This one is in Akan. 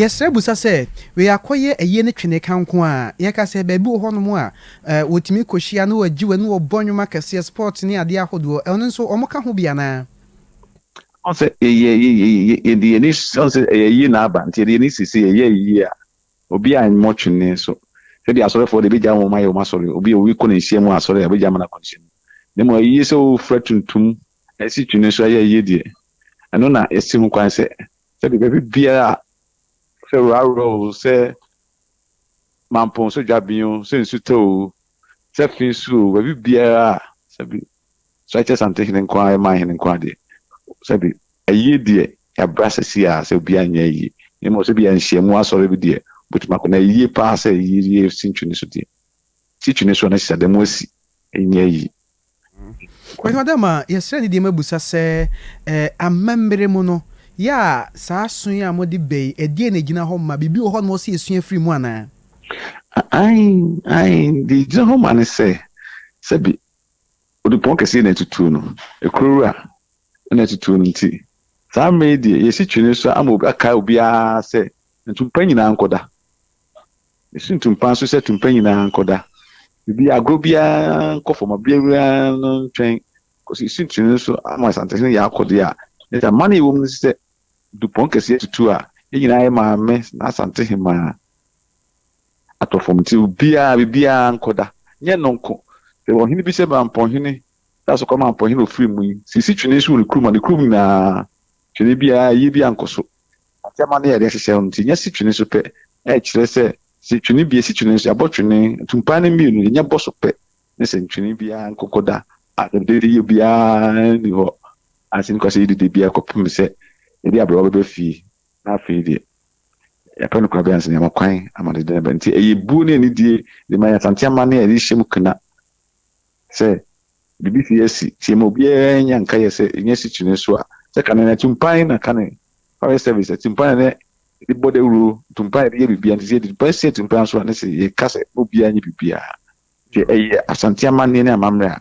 Yɛsrɛ busa sɛ, wei akɔyɛ ayie ne Tweneka nko a? Yɛka sɛ baabi wɔ hɔnom a wɔtumi kɔhyia na wɔgye wɔ ne wɔbɔ nnwom akɛseɛ, sport ne adeɛ ahodoɔ, ɛno nso wɔka ho bi anaa? Ɔhu sɛ yɛde yɛn ani, ɔhu sɛ ɛyɛ ayie na aba, nti yɛde yɛn ani si sɛ yɛyɛ ayie a, obiara mmɔ twene nso. Sɛdeɛ asɔrefoɔ deɛ bɛgyae wɔn ayɛ wɔn asɔre, obi a obi kɔ n'nhyiamu wɔ asɔre a, bɛgyae ama no akɔ n'nhyiamu. Na mmom ayie sɛ wofira tuntum, ɛsi twene so ayɛ ayie deɛ, ɛno na yɛsi ho kwan sɛ Sɛdeɛ ɛbɛyɛ biara a sɛ rarɔ o, sɛ mampong so dwaben o, sɛ nsu tɔ o, sɛ fe so o, baabi biara a sɛbi so ɛkyɛ Asante hene nko ara yɛ man hene nko ara deɛ sɛbi ayie deɛ yɛabra sɛsi a sɛ obiara nyɛ ayie na mmom sɛbi yɛ nhyiamu asɔre bi deɛ wobɛtumi akɔ na ayie paa sɛ ayie yɛ si ntwene so deɛ si twene so a na sisada mu asi ɛnyɛ ayie. Ɛno da ma yɛsrɛ ne deɛm abisa sɛ, Amammerɛ mu no, yɛ a saa aso yi a mode ba yi, ɛdeɛn na ɛgyina hɔ ma? Biribi wɔ hɔ a na ɛwɔ sɛ yɛsua firi mu anaa? Aane, aane, deɛ ɛgyina hɔ ma ne sɛ, sɛbe Odupɔn kɛseɛ na atutuo no, Ekurawura na atutuo no nti, saa mmerɛ yi deɛ yɛsi twene so ama obi, akae obiara sɛ ntumpa nyinaa nkɔda. Mesu tumpa nso sɛ tumpa nyinaa nkɔda baabi, agorɔ biara nkɔ fam, abea biara no ntwɛn kɔsi Sintiri no so ama Asantehene yɛ akɔdeɛ a, ne sɛ amane a ɛwɔ mu no sɛ dupɔn kɛseɛ tutu a, yɛn nyinaa yɛ maame na Asantehemaa atɔ fam nti obiara, biribiara nkɔda. Nyɛ ɛno nko, sɛ ɔhene bi sɛ Mampɔnhene sɛ asɔkɔ Mampɔnhene a ɔfiri mu yi, sɛ ɛsi twene so wɔ ne kurom a, ne kurom nyinaa twene biara, ayie biara nkɔ so. Asɛm ano yɛ den sesɛɛ no nti, nya si twene so pɛ a ɛkyerɛ sɛ sɛ twene bi si twene so, yɛabɔ twene atumpan no mmienu, nya bɔ so pɛ ne sɛ ntwene biara nkɔkɔ da a dededeyɛ biara nni hɔ a sɛ nnipa sɛ yɛdidi biara kɔpem sɛ yɛde aberewa bɛba fie na afei deɛ yɛapɛ no koraa bɛyɛ ansa na yɛama kwan ama dede no aba. Nti ɛyɛ buo ne anidie de ma yɛn Asante amanneɛ a yɛde hyɛ mu kena. Sɛ biribi fi asi nti ɛma obiara nya nkayɛ sɛ ɛnyɛ asikyire nso a, sɛ kane no atumpan na kane, fire service, atumpan na yɛde bɔ dawuro, atumpan na yɛde yɛ biribiara nti sɛ yɛde atumpan si atumpan so a ne sɛ yɛka sɛ ma obiara nyɛ biribiara. Sɛ ɛyɛ Asante amanneɛ ne amammerɛ a,